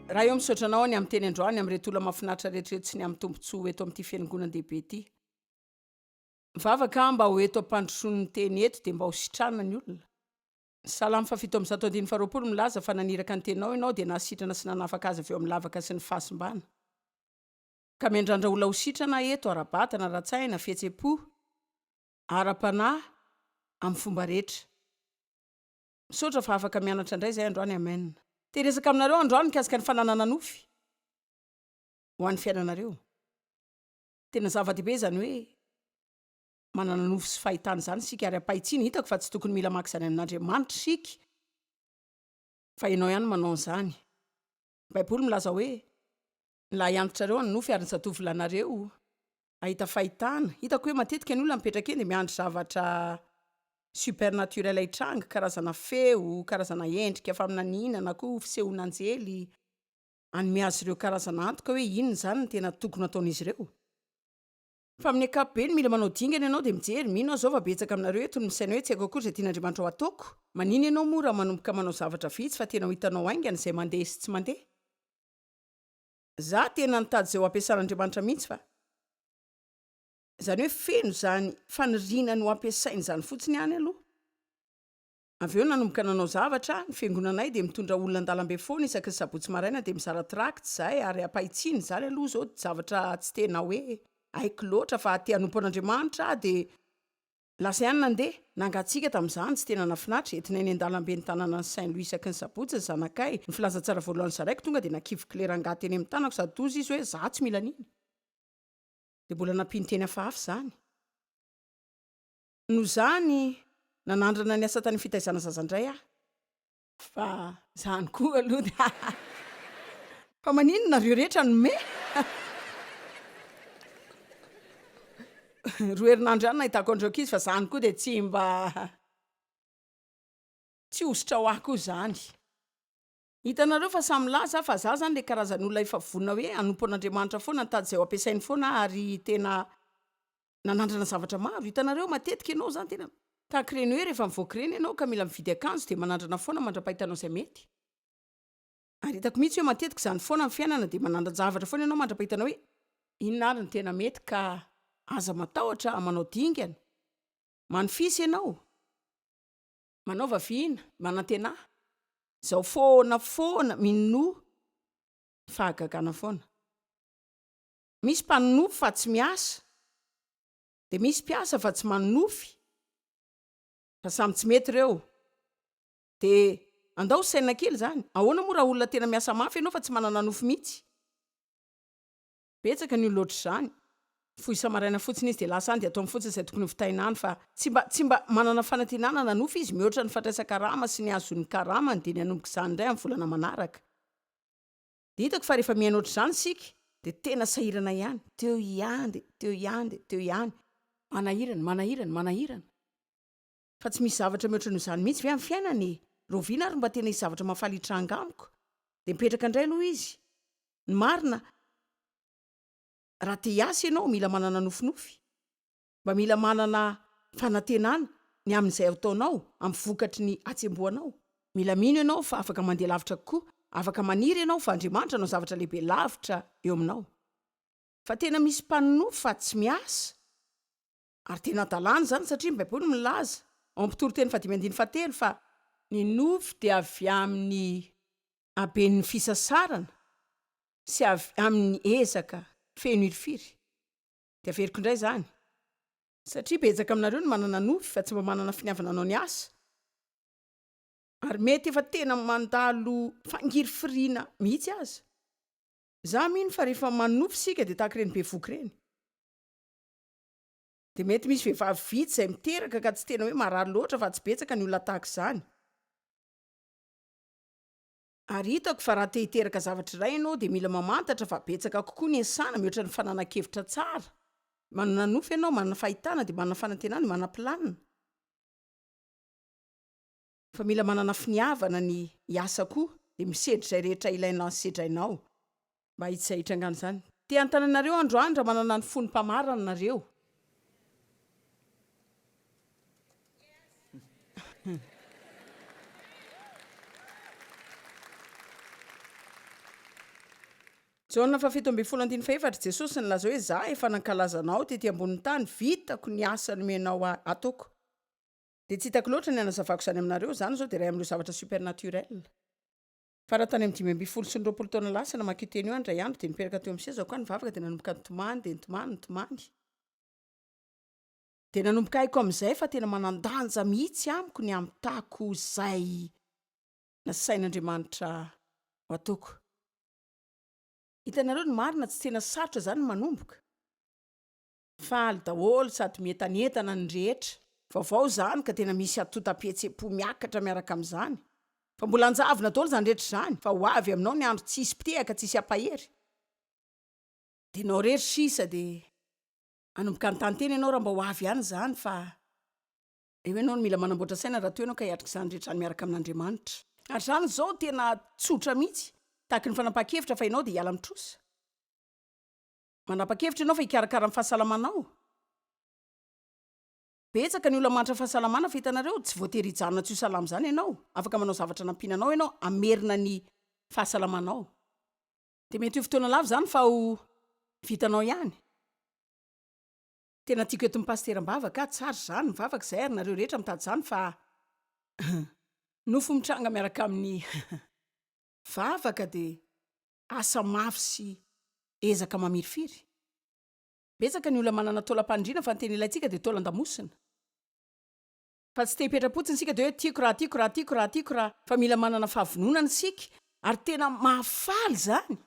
Raha eo misaotra anao ny amin'ny teny androany amin'ireto olona mahafinaritra rehetra ireto sy ny amin'ny tombontsoa eto amin'ity fiangonandehibe ity. Mivavaka aho mba ho eto am-pandrosoan'ny teny eto dia mba ho sitrana ny olona. Ny Salamo fahafito amby zato andininy faharoapolo milaza fa naniraka ny teninao Ianao dia nahasitrana sy nanafaka azy avy eo amin'ny lavaka sy ny fahasimbana. Ka miandrandra olona ho sitrana aho eto, ara-batana, ara-tsaina, fihetsem-po, ara-panahy, amin'ny fomba rehetra. Misaotra fa afaka mianatra indray izay androany. Amen. Te hiresaka aminareo androany mikasika ny fananana nofy ho an'ny fiainanareo. Tena zava-dehibe izany hoe manana nofo sy fahitana izany isika ary ampahitsiana, hitako fa tsy tokony mila maka izany amin'Andriamanitra isika fa ianao ihany manao an'izany. Ny Baiboly milaza hoe, Ny lahy antitrareo hanonofy ary ny zatovo lahinareo hahita fahitana. Hitako hoe matetika ny olona mipetraka eny dia miandry zavatra supernaturel hitranga, karazana feo, karazana endrika faminaniana na koa fisehoan'anjely hanome azy ireo karazana antoka hoe inona izany no tena tokony hataon'izy ireo. Fa amin'ny ankapobeny, mila manao dingana ianao dia mijery, mino aho izao fa betsaka aminareo eto no misaina hoe tsy haiko akory izay tian'Andriamanitra ho ataoko. Manina ianao moa raha manomboka manao zavatra vitsy fa tena ho hitanao haingana izay mandeha sy tsy mandeha? Za tena nitady izay ho ampiasan'Andriamanitra mihitsy fa. Izany hoe feno izany faniriana ny ho ampiasainy izany fotsiny ihany aloha. Avy eo nanomboka nanao zavatra, ny fiangonanay dia mitondra olona an-dalambe foana isaky ny sabotsy maraina dia mizara tracts izahay ary ampahitsiana, izany aloha izao dia zavatra tsy tena hoe haiko loatra fa te hanompo an'Andriamanitra aho dia lasa ihany nandeha, nangatsiaka tamin'izany, tsy tena nahafinaritra, entinay eny an-dalambe ny tanànan'i Saint Louis isaky ny sabotsy ny zanakay, ny filazantsara voalohany zaraiko tonga dia nakivy kle rangahy teny amin'ny tanako sady toa izy hoe za tsy mila an'iny dia mbola nampiany teny hafahafa izany. Noho izany, nanandrana ny asa tany fitaizana zaza indray aho, fa izany koa aloha dia haha! Fa maninona nareo rehetra no me? Roa herinandro ihany nahitako an'ireo ankizy fa izany koa dia tsy mba tsy hosotra ho ahy koa izany. Hitanareo fa samy milaza aho fa za zany le karazan olona efa vonona hoe hanompo an'Andriamanitra foana nitady zay ho ampiasainy foana aho ary tena nanandrana zavatra maro hitanareo matetika ianao zany tena tahaka ireny hoe rehefa mivoaka ireny ianao ka mila mividy akanjo de manandrana foana mandrapahitanao zay mety ary hitako mihitsy hoe matetika zany foana ny fiainana de manandran-javatra foana ianao mandrapahitanao hoe inona ary ny tena mety ka aza matahotra manao dingana manfisy ianao Manaova vina, manantena, zao foana foana minoa fahagagana foana. Misy mpanonofy fa tsy miasa, de misy mpiasa fa tsy manonofy, fa samy tsy mety reo. De andao ho saina kely zany, ahoana moa raha olona tena miasa mafy enao fa tsy manana nofy mitsy? Betsaka ny olona ohatr'izany. Mifoha isa-maraina fotsiny izy dia lasa any dia ataony fotsiny izay tokony hovitaina any fa tsy mba tsy mba manana fanantenana nanofy izy mihoatra ny fandraisan-karama sy ny hahazoany ny karamany dia ny hanomboka izany indray amin'ny volana manaraka. Dia hitako fa rehefa mihaino ohatr'izany isika dia tena sahirana ihany. Teo ihany dia teo ihany dia teo ihany. Manahirana, manahirana, manahirana. Fa tsy misy zavatra mihoatra noho izany mihitsy ve amin'ny fiainana e? Rahoviana ary no mba tena hisy zavatra mahafaly hitranga amiko? Dia mipetraka indray aloha izy. Ny marina, raha te hiasa ianao, mila manana nofinofy. Mba mila manana fanantenana ny amin'izay ataonao, amin'ny vokatry ny hatsembohanao. Mila mino ianao fa afaka mandeha lavitra kokoa, afaka maniry ianao fa Andriamanitra hanao zavatra lehibe lavitra eo aminao. Fa tena misy mpanonofy fa tsy miasa. Ary tena adalana izany satria ny Baiboly milaza ao amin'ny mpitoriteny fahadimy andininy fahatelo fa. Ny nofy dia avy amin'ny haben'ny fisasarana sy avy amin'ny ezaka feno hirifiry. Dia averiko indray izany. Satria betsaka aminareo no manana nofy fa tsy mba manana finiavana hanao ny asa. Ary mety efa tena mandalo fangirifiriana mihitsy aza. Izaho mino fa rehefa manofy isika dia tahaka ireny bevohoka ireny. Dia mety misy vehivavy vitsy izay miteraka ka tsy tena hoe marary loatra fa tsy betsaka ny olona tahaka izany. Ary hitako fa raha te hiteraka zavatra iray ianao dia mila mamantatra fa betsaka kokoa ny ensana mihoatra ny fananan-kevitra tsara. Manana nofy ianao, manana fahitana dia manana fanantenana, manam-pilanina. Fa mila manana finiavana ny hiasa koa dia misedra izay rehetra ilaina sedrainao mba hitsy izay hitrangana izany. Te hanontany anareo androany raha manana ny fon'ny mpamarana nareo. Jaona faha fito ambin'ny folo andininy fahefatra, Jesosy nilaza hoe, Zah efa nankalaza anao tety ambonin'ny tany, vitako ny asa nomenao ahy hataoko. Dia tsy hitako loatra ny hanazavako izany aminareo, izany izao dia iray amin'ireo zavatra supernaturel. Fa raha tany amin'ny dimy ambin'ny folo sy ny roapolo taona lasa namaky io teny io aho indray andro dia nipetraka teo amin'ny sezako aho nivavaka dia nanomboka nitomany dia nitomany, nitomany. Dia nanomboka haiko amin'izay fa tena manan-danja mihitsy amiko ny hamitako izay nasain'Andriamanitra ho ataoko. Hitanareo ny marina, tsy tena sarotra izany ny manomboka. Faly daholo sady mientanentana ny rehetra. Vaovao izany ka tena misy atotam-pihetsem-po miakatra miaraka amin'izany. Fa mbola hanjavona daholo izany rehetra izany fa ho avy aminao ny andro tsy hisy mpitehaka tsy hisy hampahery. Dia ianao irery sisa dia hanomboka hanotantena ianao raha mba ho avy ihany izany fa eo ianao no mila manamboatra saina raha toa ianao ka hiatrika izany rehetra any miaraka amin'Andriamanitra. Ary izany izao tena tsotra mihitsy, tahaky ny fanapahan-kevitra fa ianao dia hiala amin'ny trosa. Manapa-kevitra ianao fa hikarakara ny fahasalamanao? Betsaka ny olona mahantra fahasalamana fa hitanareo, tsy voatery hijanona tsy ho salama izany ianao. Afaka manao zavatra hanampiana anao ianao hamerina ny fahasalamanao. Dia mety ho fotoana lava izany fa ho vitanao ihany. Tena tiako eto ny pasitera am-bavaka a! Tsara izany ny vavaka izay ary nareo rehetra mitady izany fa nofo mitranga miaraka amin'ny Vavaka dia asa mafy sy ezaka mamirifiry. Betsaka ny olona manana taolam-panindriana fa ny tena ilaintsika dia taolan-damosina. Fa tsy te-hipetra-potsiny isika dia hoe tiako raha tiako raha tiako raha tiako raha fa mila manana fahavononana isika ary tena mahafaly izany.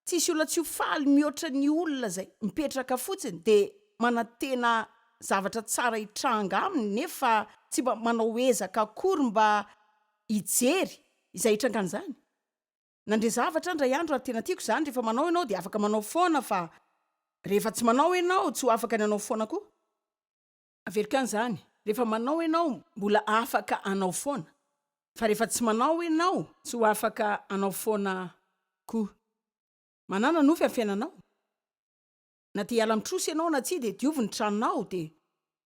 Tsisy olona tsy ho faly mihoatra ny olona izay mipetraka fotsiny dia manantena zavatra tsara hitranga aminy nefa tsy mba manao ezaka akory mba hijery izay hitrangan'izany. Nandre zavatra aho indray andro ary tena tiako izany, rehefa manao ianao dia afaka manao foana fa rehefa tsy manao ianao tsy ho afaka ny hanao foana koa. Averiko any zany, rehefa manao enao mbola afaka anao foana, fa rehefa tsy manao enao tsy ho afaka anao foana ko. Manana nofy am fiainanao. Na te hiala am trosa enao na tsia de diovy ny tranonao de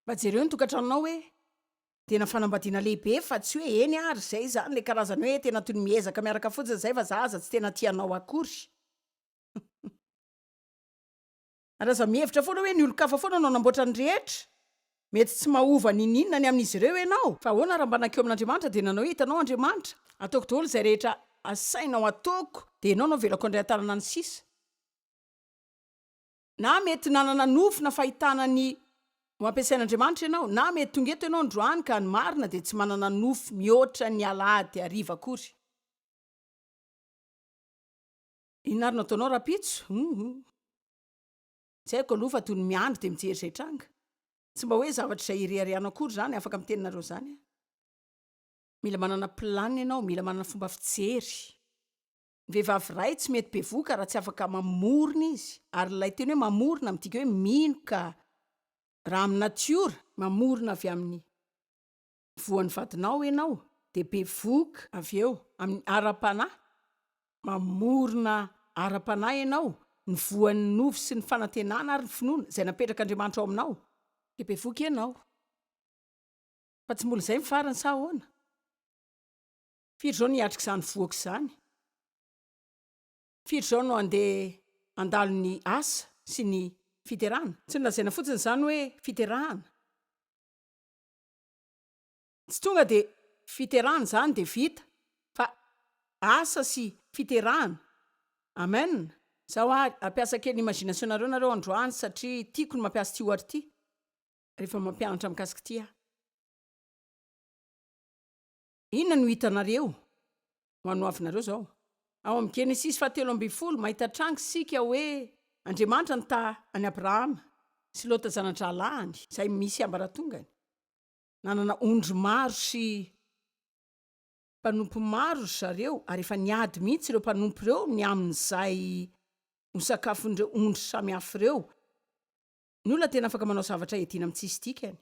mba jereo ny tokatranonao hoe tena fanambadiana lehibe fa tsy hoe eny ary zay zany le karazany hoe tena toy ny miezaka miaraka fotsiny zay fa za aza tsy tena tia anao akory. Ary aza mihevitra foana hoe ny olon-kafa foana no hanamboatra ny rehetra. Mety tsy mahova n'inon'inona ny amin'izy ireo ianao. Fa ahoana raha mba nankeo amin'Andriamanitra dia nanao hoe, Hitanao Andriamanitra, ataoko daholo izay rehetra asainao ataoko, dia ianao no avelako handray an-tanana ny sisa. Na mety nanana nofy na fahitana ny ho ampiasain'Andriamanitra ianao, na mety tonga eto ianao androany ka ny marina dia tsy manana nofy mihoatra ny alahady hariva akory. Inona ary no ataonao rahampitso? Humm. Tsy haiko aloha fa toy ny miandry dia mijery izay tranga. Tsy mba hoe zavatra izay ireharehanao akory izany, afaka miteny nareo izany aho. Mila manana plan ianao, mila manana fomba fijery. Ny vehivavy iray tsy mety bevoka raha tsy afaka mamorona izy, ary ilay teny hoe mamorona midika hoe mino ka raha amin'ny natiora, mamorona avy amin'ny. voan'ny vadinao ianao dia bevohoka avy eo amin'ny ara-panahy, mamorona ara-panahy ianao, ny voan'ny nofo sy ny fanantenana ary ny finoana izay napetrak'Andriamanitra ao aminao dia bevohoka ianao. Fa tsy mbola izay ny farany sa ahoana? Firy izao no hiatrik'izany vohoka izany? Firy izao no handeha handalo ny asa sy ny fiterahana? Tsy nolazaina fotsiny izany hoe fiterahana. Tsy tonga dia fiterahana izany dia vita fa asa sy fiterahana. Amen. Zaho ary hampiasa kely imagination nareo nareo androany satria tiako ny mampiasa ity ohatra ity rehefa mampianatra mikasika ity aho. Inona no hitanareo? Ho anoavinareo izao. Ao amin'ny Genesisy fahatelo ambin'ny folo, mahita tranga isika hoe Andriamanitra nita an'i Abrahama sy Lota zana-drahalahiny, izay misy ambaratongany. Nanana ondry maro sy mpanompo maro ry zareo, ary efa niady mihitsy ireo mpanompo ireo ny amin'izay ho sakafon'ireo ondry samihafa ireo. Ny olona tena afaka manao zavatra iadiana amin'ny tsisy dikany.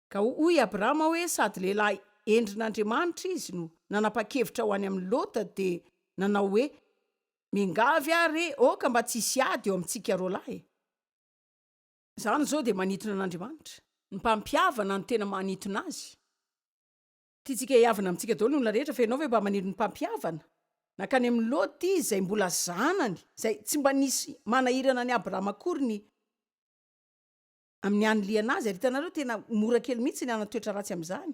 Ka hoy Abrama hoe sady lehilahy endrin'Andriamanitra izy no nanapa-kevitra ho any amin'i Lota dia nanao hoe, Miangavy aho re aoka mba tsy hisy ady eo amintsika roa lahy e! Izany izao dia manintona an'Andriamanitra. Ny mpampihavana no tena manintona Azy. Tiantsika hihavana amintsika daholo ny olona rehetra fa ianao ve mba maniry ny mpampihavana? Nankany amin'i Lota Izy izay mbola zanany, izay tsy mba nisy manahirana an'i Abrama akory ny. amin'ny hanilihana azy ary hitanareo tena mora kely mihitsy ny hanan-toetra ratsy amin'izany.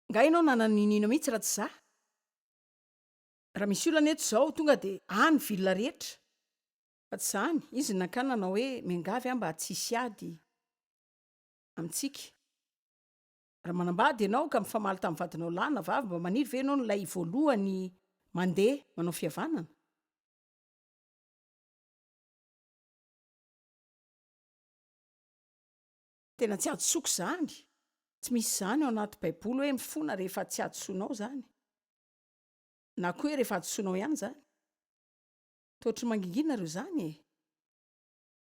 Nga ianao nanana ninoino mihitsy raha tsy izaho? Raha misy olana eto izao tonga dia any ville rehetra. Fa tsy izany, izy nankany nanao hoe miangavy aho mba tsy hisy ady amintsika. Raha manambady ianao ka mifamaly tamin'ny vadinao lahy na vavy mba maniry ve ianao ny ilay voalohany mandeha manao fihavanana? Tena tsy hadisoako izany. Tsy misy izany ao anaty baiboly hoe mifona rehefa tsy hadisoanao izany. Na koa hoe rehefa hadisoanao ihany izany. Toa ohatry ny mangingina ary izany e!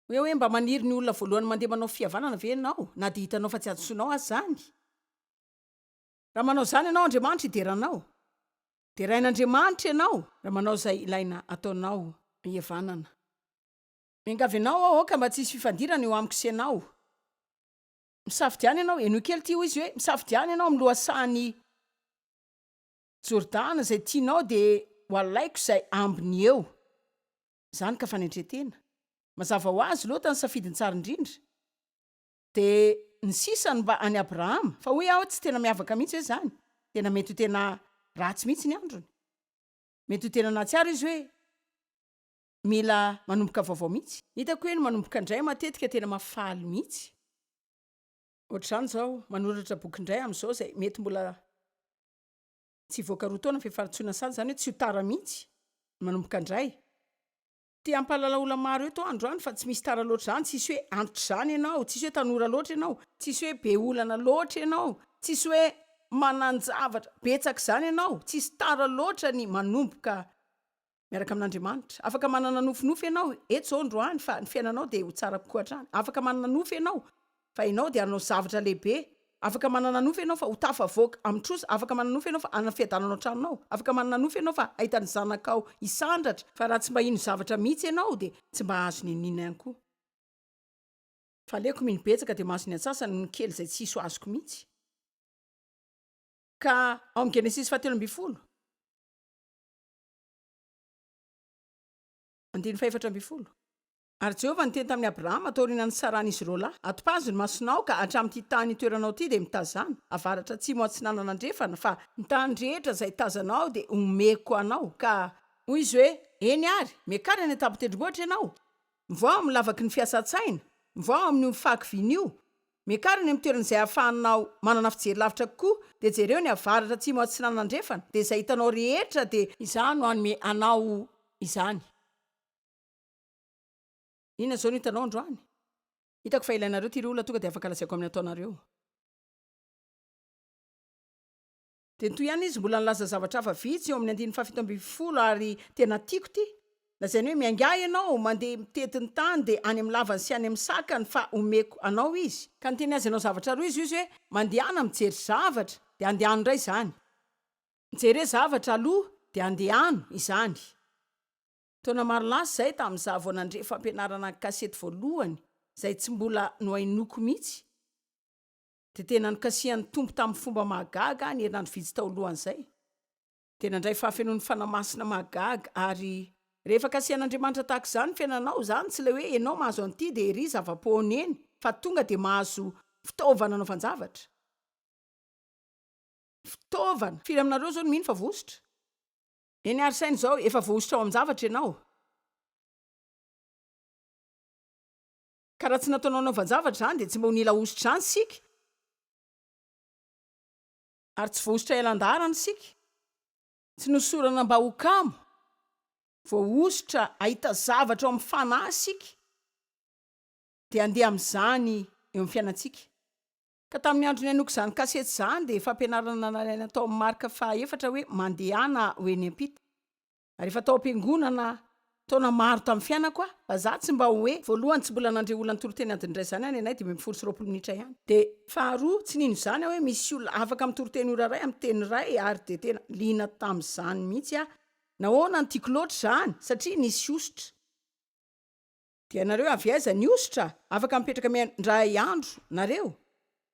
Hoe hoe mba maniry ny olona voalohany mandeha manao fihavanana ve ianao na dia hitanao fa tsy hadisoanao aza izany? Raha manao izany ianao Andriamanitra hidera anao. Derain'Andriamanitra ianao raha manao izay ilaina ataonao hihavanana. Miangavy anao aho aoka mba tsy hisy fifandirana eo amiko sy ianao. Misafidiana ianao, henoy kely ity, hoy izy hoe, misafidiana ianao amin'ny lohasahan'i Jordana izay tianao dia ho alaiko izay ambiny eo. Izany ka fanetren-tena. Mazava ho azy, Lota no safidiny tsara indrindra. Dia ny sisa no mba an'i Abrahama. Fa hoy aho, tsy tena miavaka mihitsy ve izany? Tena mety ho tena ratsy mihitsy ny androny. Mety ho tena nahatsiaro izy hoe. mila manomboka vaovao mihitsy. Hitako hoe ny manomboka indray matetika tena mahafaly mihitsy. Ohatr'izany izao, manoratra boky indray amin'izao izay mety mbola tsy hivoaka roa taona ny fifanatsoana sazy, izany hoe tsy ho tara mihitsy ny manomboka indray. Te hampahalala olona maro eto aho androany fa tsy misy tara loatra izany, tsisy hoe antitra izany ianao, tsisy hoe tanora loatra ianao, tsisy hoe be olana loatra ianao, tsisy hoe manan-javatra betsaka izany ianao, tsisy tara loatra ny manomboka miaraka amin'Andriamanitra. Afaka manana nofinofy ianao eto izao androany fa ny fiainanao dia ho tsara kokoa hatrany. Afaka manana nofy ianao fa ianao dia hanao zavatra lehibe. Afaka manana nofy ianao fa ho tafavoaka amin'ny trosa. Afaka manana nofy ianao fa hanana fiadanana ao an-tranonao. Afaka manana nofy ianao fa hahita ny zanakao hisandratra. Fa raha tsy mba hino zavatra mihitsy ianao dia tsy mba hahazo ny iniana ihany koa. Fa aleoko mino betsaka dia mahazo ny antsasany noho ny kely izay tsy hisy ho azoko mihitsy. Ka ao amin'ny Genesisy fahatelo ambin'ny folo. Andininy fahefatra ambin'ny folo. Ary Jehovah niteny tamin'i Abrahama taorianan'ny nitsaran'izy ireo lahy, Atopazo ny masonao ka hatramin'ity tany itoeranao ity dia mitazana, avaratra atsimo atsinanana andrefana, fa ny tany rehetra izay tazanao dia homeko anao, ka hoy izy hoe, Eny àry, miakara any an-tampon-tendrombohitra ianao, mivao amin'ny lavaky ny fiasan-tsaina, mivao amin'io fahakiviana io, Miakara eny amin'ny toerana izay ahafahanao manana fijery lavitra kokoa dia jereo ny avaratra, atsimo, atsinanana, andrefana dia izay hitanao rehetra dia. Izaho no hanome anao izany. Inona izao no hitanao androany? Hitako fa ilainareo ity ry olona tonga dia afaka lazaiko amin'ny ataonareo. Dia toy ihany izy mbola nilaza zavatra hafa vitsy eo amin'ny andininy fahafito ambin'ny folo ary tena tiako ity, lazainy hoe miaingaha ianao mandeha mitety ny tany dia any amin'ny lavany sy any amin'ny sakany fa omeko anao izy, ka niteny azy hanao zavatra roa izy hoe mandehana mijery zavatra dia andehano indray izany, mijere zavatra aloha dia andehano izany. Taona maro lasa izay tamin'izaho vao nandre fampianarana ankasety voalohany izay tsy mbola nohainoako mihitsy, dia tena nikasihan'ny Tompo tamin'ny fomba mahagaga ny herinandro vitsy tao alohan'izay. Dia nandray fahafenoan'ny Fanahy Masina mahagaga ary. Rehefa kasihan'Andriamanitra tahaka izany ny fiainanao, izany tsy ilay hoe ianao mahazo an'ity dia ery zava-poana eny, fa tonga dia mahazo fitaovana anaovan-javatra. Fitaovana! Firy aminareo izao no mino fa voahosotra? Eny ary saino izao, efa voahosotra ao amin-javatra ianao. Ka raha tsy nataonao hanaovan-javatra izany dia tsy mba ho nila hosotra izany isika. Ary tsy voahosotra ela an-daharana isika. Tsy nosorana mba ho kamo. Voahosotra hahita zavatra ao amin'ny Fanahy isika. Dia handeha amin'izany eo amin'ny fiainantsika. Ka tamin'ny andro nihainoako izany kasety izany dia fampianarana nalaina tao amin'ny Marka faha efatra hoe mandehana ho eny am-pita. Rehefa tao am-piangonana taona maro tamin'ny fiainako aho, fa izaho tsy mba hoe, voalohany, tsy mbola nandre olona nitory teny adiny iray izany any anay, dimy ambin'ny folo sy roapolo minitra ihany, dia, faharoa, tsy nino izany aho hoe misy olona afaka mitory teny ora iray amin'ny teny iray, ary dia tena liana tamin'izany mihitsy aho. Nahoana no tiako loatra izany? Satria nisy hosotra. Dia nareo avy aiza ny hosotra afaka mipetraka miandray andro nareo?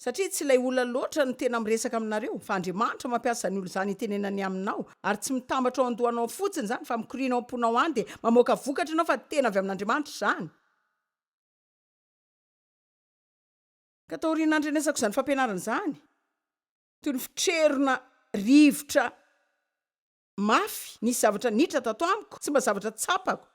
Satria tsy ilay olona loatra no tena miresaka aminareo fa Andriamanitra mampiasa ny olona izany hitenenany aminao ary tsy mitambatra ao an-dohanao ao fotsiny izany fa mikoriana ao am-ponao any dia mamoaka vokatra ianao fa tena avy amin'Andriamanitra izany. Ka taorian'ny nandrenesako izany fampianarana izany, toy ny fitrerona rivotra mafy nisy zavatra niditra tato amiko tsy mba zavatra tsapako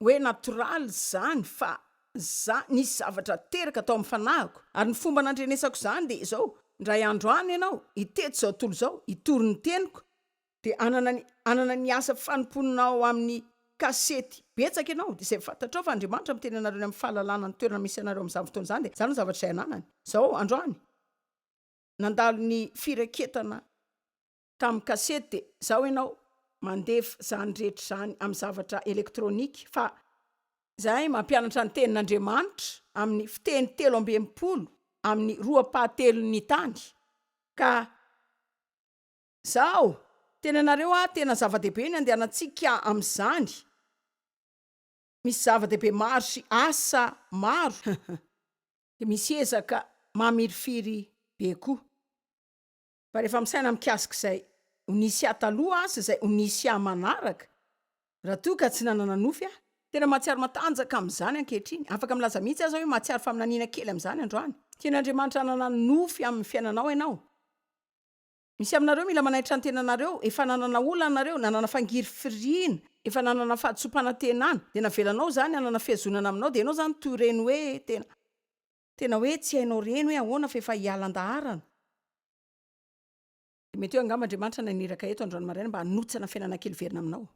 oe natoraly zany fa za nisy zavatra teraka tao am fanahiko ary ny fomba nandrenesako zany de zao ndray andro any enao itety zao tolo zao hitory ny teniko de anana ny anana ny asa fanompoanao amin ny kasety betsaka enao de zay fantatrao fa Andriamanitra miteny anareo ny am fahalalana ny toerana misy anareo am zany fotoana zany de zany no zavatra zay ananany zao andro any nandalo ny firaketana Tamin'ny kasety dia izao ianao mandefa izany rehetra izany amin'ny zavatra elektronika fa izahay mampianatra ny tenin'Andriamanitra amin'ny fiteny telo amby enimpolo amin'ny roapahatelon'ny tany ka izao tenenareo aho tena zava-dehibe ny andehanantsika amin'izany misy zava-dehibe maro sy asa maro dia misy ezaka mamirifiry be koa. Fa rehefa misaina mikasika izay ho nisy ahy taloha sy izay ho nisy ahy manaraka, raha toa ka tsy nanana nofy aho, tena mahatsiaro matanjaka amin'izany ankehitriny, afaka milaza mihitsy aza hoe mahatsiaro faminaniana kely amin'izany androany. Tian'Andriamanitra hanana nofy amin'ny fiainanao ianao. Misy aminareo mila manaitra ny tenanareo, efa nanana olana nareo, nanana fangirifiriana, efa nanana fahadisoam-panantenana, dia navelanao izany hanana fihazonana aminao, dia ianao izany toy ireny hoe tena. Tena hoe tsy hainao reny hoe ahoana fa efa hiala an-daharana. Mety hoe angamba Andriamanitra naniraka eto androany maraina mba hanotsana fiainana kely hiverina aminao.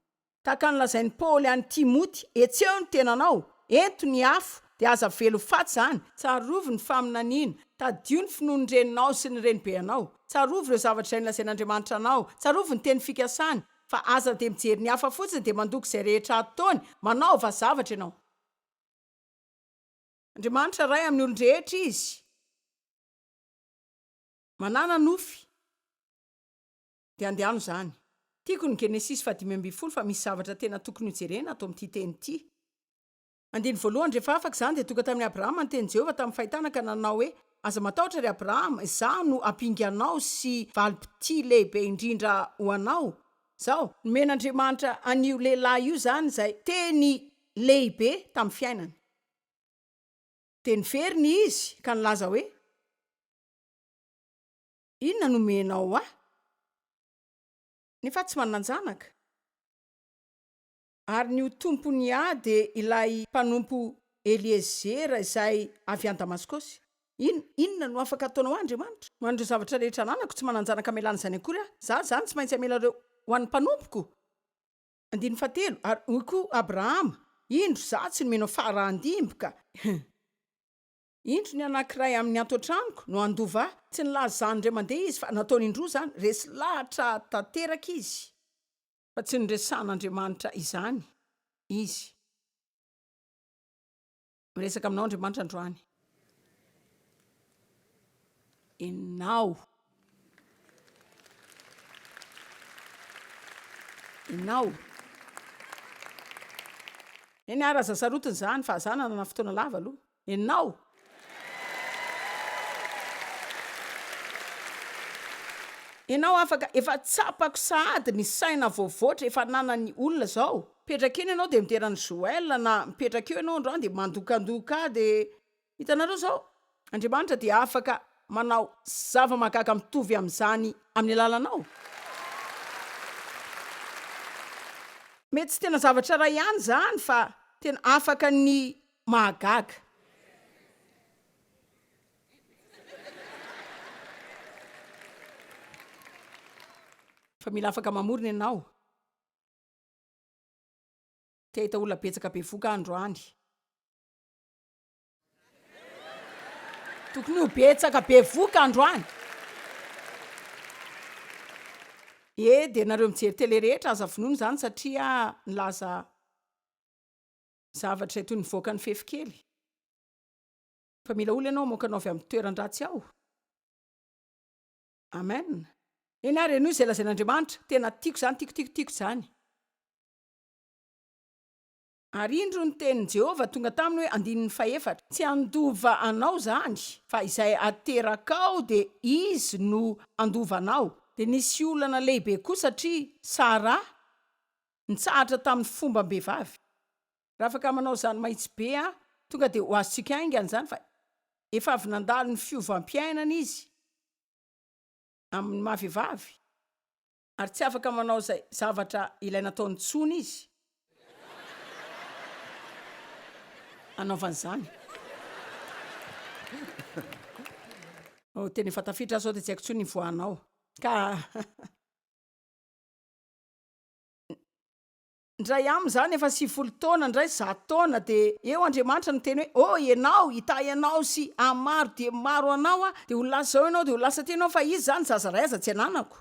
Tahaka ny lazain'i Paoly an'i Timoty, Hetseho ny tenanao, ento ny afo, dia aza velo faty izany, tsarovy ny faminaniana, tadidio ny finoan'ny reninao sy ny renibe anao, tsarovy ireo zavatra izay nolazain'Andriamanitra anao, tsarovy ny teny fikasany, fa aza dia mijery ny hafa fotsiny dia mandoko izay rehetra ataony, manaova zavatra ianao. Andriamanitra Ray amin'ny olon-drehetra Izy manana nofy dia andehano izany. Tiako ny Genesisy fahadimy ambin'ny folo fa misy zavatra tena tokony hojerena ato amin'ity teny ity. Andininy voalohany Rehefa afaka izany dia tonga tamin'i Abrahama ny tenin'i Jehovah tamin'ny fahitana ka nanao hoe, Aza matahotra ry Abrahama, izaho no hampinga anao sy valim-pitia lehibe indrindra ho anao. Izao. Nomen'Andriamanitra an'io lehilahy io izany izay teny lehibe tamin'ny fiainany. Dia niverina izy ka nilaza hoe, Inona no omenao ahy? Nefa tsy manan-janaka. Ary ny ho tompony ahy dia ilay mpanompo Eliezera izay avy any Damaskosy. In, inona no afaka ataonao ahy, Andriamanitra? Ho an'ireo zavatra rehetra ananako, tsy manan-janaka hamelana izany akory aho. Izaho izany tsy maintsy hamela ireo ho an'ny mpanompoko. Andininy fahatelo, Ary hoy koa Abrahama, Indro, izaho tsy nomena faharahan-dimby ka. Indro, ny anankiray amin' ny ato an-tranoko no handova ahy. Tsy nilaza izany indray mandeha izy, fa nataony indroa izany, resy lahatra tanteraka izy. Fa tsy niresahan' Andriamanitra izany izy. Miresaka aminao Andriamanitra androany. Enao. Enao. Eny ara aza sarotiny zany fa za nanana fotoana lava aloha. Enao. Enao afaka efa tsapako sahady ny saina voavoatra efa ananan'ny olona zao. Mipetraka eny ianao dia midera an'i Joël na mipetraka eo ianao androany dia mandokandoka ahy dia hitanareo izao Andriamanitra dia afaka manao zava-mahagaga mitovy amin'izany amin'ny alalanao. Mety tsy tena zavatra iray ihany izany fa tena afaka ny mahagaga. Fa mila afaka mamorona ianao. Te hahita olona betsaka bevoka aho androany. Tokony ho betsaka bevoka androany. E dia nareo mijery tele rehetra aza vonoina izany satria nilaza zavatra izay toy ny nivoaka ny fefy kely. Fa mila olona ianao hamoaka anao avy amin'ny toeran-dratsy ao. Amen eny ary henoy izay lazain'Andriamanitra tena tiako izany tiako tiako tiako izany ary indro ny tenin'i Jehovah tonga taminy hoe andininy fahefatra tsy handova anao izany fa izay aterakao dia izy no handova anao dia nisy olana lehibe koa satria Saraha nitsahatra tamin'ny fombam-behivavy Raha afaka manao izany mahitsy be aho, tonga dia ho azontsika haingana izany fa efa avy nandalo ny fiovam-piainana izy amin'ny maha vehivavy ary tsy afaka manao izay zavatra ilay nataony intsony izy hanaovany izany. Oh, tena efa tafiditra aho izao dia tsy haiko intsony ny voanao. Ka Ndray amin izany efa sivifolo taona ndray zato taona dia eo Andriamanitra no miteny hoe oh ianao hitahy anao sy amin maro dia maro anao aho dia ho lasa zao ianao dia ho lasa aty ianao fa izy izany zaza iray aza tsy ananako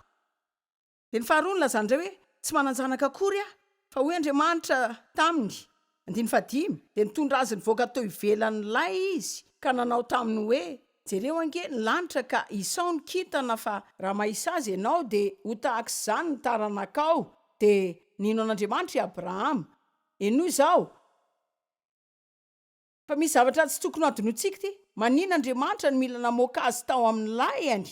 dia ny faharoa nilazany ndray hoe tsy mananjanaka akory aho fa hoy Andriamanitra taminy andininy fahadimy dia nitondra azy nivoaka teo ivelan ilay izy ka nanao taminy hoe Jereo ange ny lanitra ka isao ny kintana fa raha mahisazy ianao dia ho tahak'izany ny taranakao dia nino an'Andriamanitra i Abrahama. Henoy izao fa misy zavatra tsy tokony hadinointsika ity, manin Andriamanitra no mila namoaka azy tao amin'ny lahiny?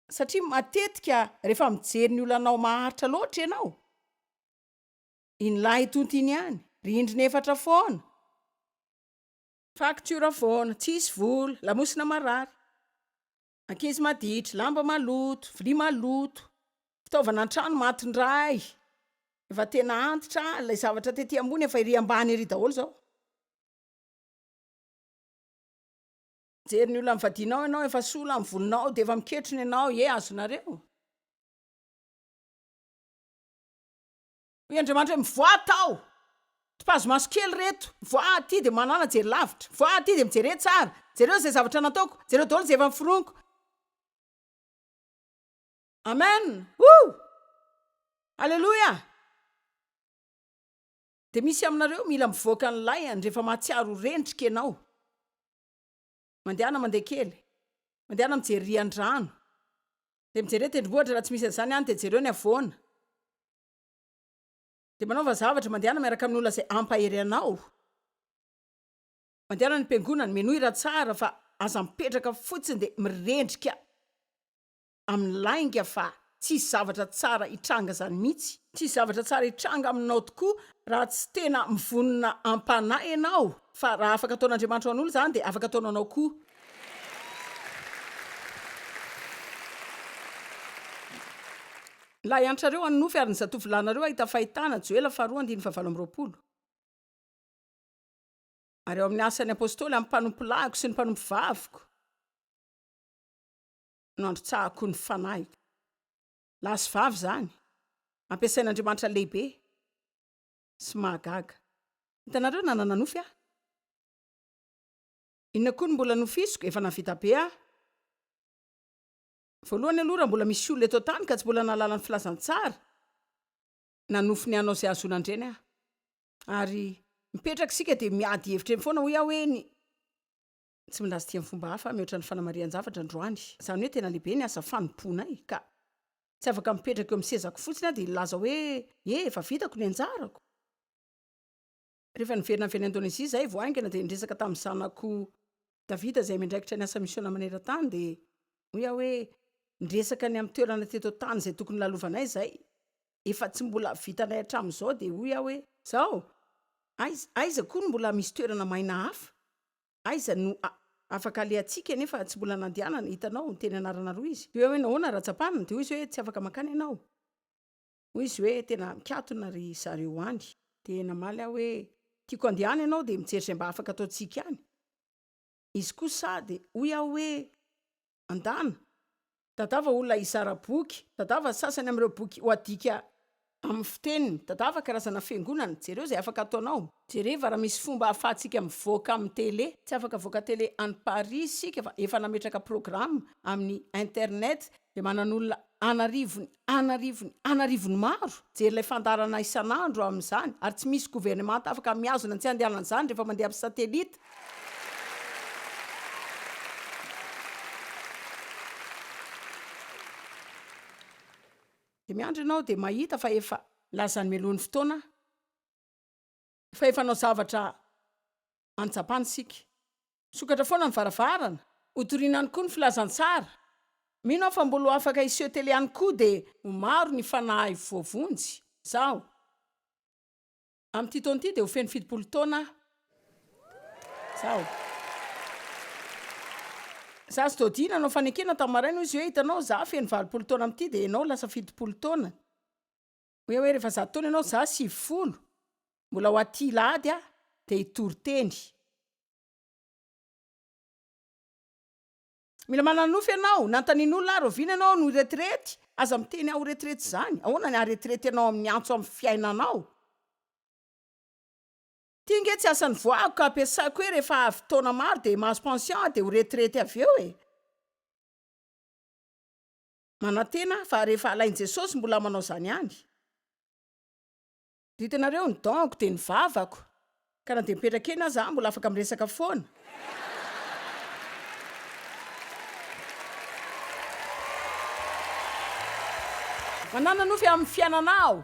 Satria matetika rehefa mijery ny olanao maharitra loatra ianao, iny lahy tonta iny ihany, rindrina efatra foana, Facture foana, tsisy vola, lamosina marary, ankizy maditra, lamba maloto, vilia maloto, fitaovana an-trano maty indray, efa tena antitra, ilay zavatra tety ambony efa ery ambany ery daholo izao. Mijery ny olan'ny vadianao ianao, efa sola ny volinao dia efa miketrona ianao, ie azonareo. Hoy Andriamanitra hoe, Mivoaha ato aho. Tipazo-maso kely ireto. Mivoaha aty dia manàna jery lavitra. Mivoaha aty dia mijere tsara. Jereo izay zavatra nataoko. Jereo daholo izay efa noforoniko. Amen! Woo! Aleloia! Dia misy aminareo mila mivoaka ny lahiany rehefa mahatsiaro ho rendrika ianao. Mandehana mandeha kely. Mandehana mijery rian-drano. Dia mijereo tendrombohitra raha tsy misy an'izany any dia jereo ny havoana. Dia manaova zavatra, mandehana miaraka amin'ny olona izay hampahery anao. Mandehana any am-piangonana, menoy hira tsara fa aza mipetraka fotsiny dia mirendrika amin'ny lainga fa tsy hisy zavatra tsara hitranga izany mihitsy. Tsy hisy zavatra tsara hitranga aminao tokoa raha tsy tena mivonona am-panahy ianao fa raha afaka ataon'Andriamanitra ho an'olona izany dia afaka ataony ho anao koa. Lahiantrareo hanonofy ary ny zatovolahinareo hahita fahitana, Joela faharoa andininy fahavalo amby roapolo. Ary ao amin'ny Asan'ny Apostoly, amin'ny mpanompolahiko sy ny mpanompovaviko no androtsahako ny fanahiko. Lahy sy vavy izany, ampiasain'Andriamanitra lehibe sy mahagaga. Hitanareo na nananofy aho? Inona koa no mbola nofisiko? Efa nahavita be aho. Voalohany aloha raha mbola misy olona eto an-tany ka tsy mbola nahalala ny filazantsara na nofy ny hanao izay hahazoana an-dreny aho. Ary mipetraka isika dia miady hevitra eny foana hoy aho hoe ny tsy milaza ity amin'ny fomba hafa aho mihoatra ny fanamarihan-javatra androany. Izany hoe tena lehibe ny asa fanompoanay ka tsy afaka mipetraka eo amin'ny sezako fotsiny aho dia hilaza hoe, Ye, efa vitako ny anjarako. Rehefa niverina avy any Indonezia izahay vao haingana dia niresaka tamin'ny zanako David izay miandraikitra ny asa misiona maneran-tany dia hoy aho hoe, Niresaka ny amin'ny toerana teto an-tany izay tokony hilalovanay izahay. Efa tsy mbola vitanay hatramin'izao dia hoy aho hoe, Izao, aiza, aiza koa no mbola misy toerana maina hafa? Aiza no afaka alehantsika nefa tsy mbola nandehanana? Hitanao, niteny anarana roa izy. Dia hoy aho hoe, Nahoana raha tsapana? Dia hoy izy hoe, Tsy afaka mankany ianao. Hoy izy hoe, Tena mikatona ry zareo any. Dia namaly aho hoe, Tiako handeha any ianao dia mijery izay mba afaka ataontsika any. Izy kosa dia hoy aho hoe, Andana, tadava olona hizara boky, tadava sasany amin'ireo boky ho adika amin'ny fiteniny, tadava karazana fiangonana, jereo izay afaka ataonao. Jereva raha misy fomba ahafahantsika mivoaka amin'ny tele. Tsy afaka avoaka tele any Paris isika fa efa nametraka programa amin'ny internet Dia manan'olona an'arivony, an'arivony, an'arivony maro, hijery ilay fandaharana isan'andro amin'izany, ary tsy misy governemanta afaka mihazona ny tsy handehanan'izany rehefa mandeha amin'ny satelita. Dia miandry ianao dia mahita fa efa. Lazany mialoha ny fotoana aho. Fa efa hanao zavatra any Japana isika. Misokatra foana ny varavarana. Hotorina any koa ny filazantsara. Mino aho fa mbola ho afaka hiseho tele any koa dia ho maro ny fanahy voavonjy. Izaho. Amin'ity taona ity dia ho feno fitopolo taona aho. Izaho. Zaza Doddy nanao fanekena tamin'ny maraina hoy izy hoe, Hitanao, izaho feno valopolo taona amin'ity dia ianao lasa fitopolo taona. Hoe hoe rehefa zato taona ianao, za sivy folo, mbola ho aty Ilahady aho dia hitory teny. Mila manana nofy ianao, nanontanian'olona ahy, rahoviana ianao no retirety? Aza miteny ahy ho retirety izany, ahoana ny haharetirety anao amin'ny antso amin'ny fiainanao? Ity ange tsy asan'ny voahako ka ampiasaiko hoe rehefa avy taona maro dia mahazo pension aho dia ho retirety avy eo e! Manantena fa rehefa alain'i Jesosy mbola manao izany ihany. Ry hitanareo, ny donko dia ny vavako, ka na dia mipetraka eny aza aho mbola afaka miresaka foana. Manana nofy amin'ny fiainana aho.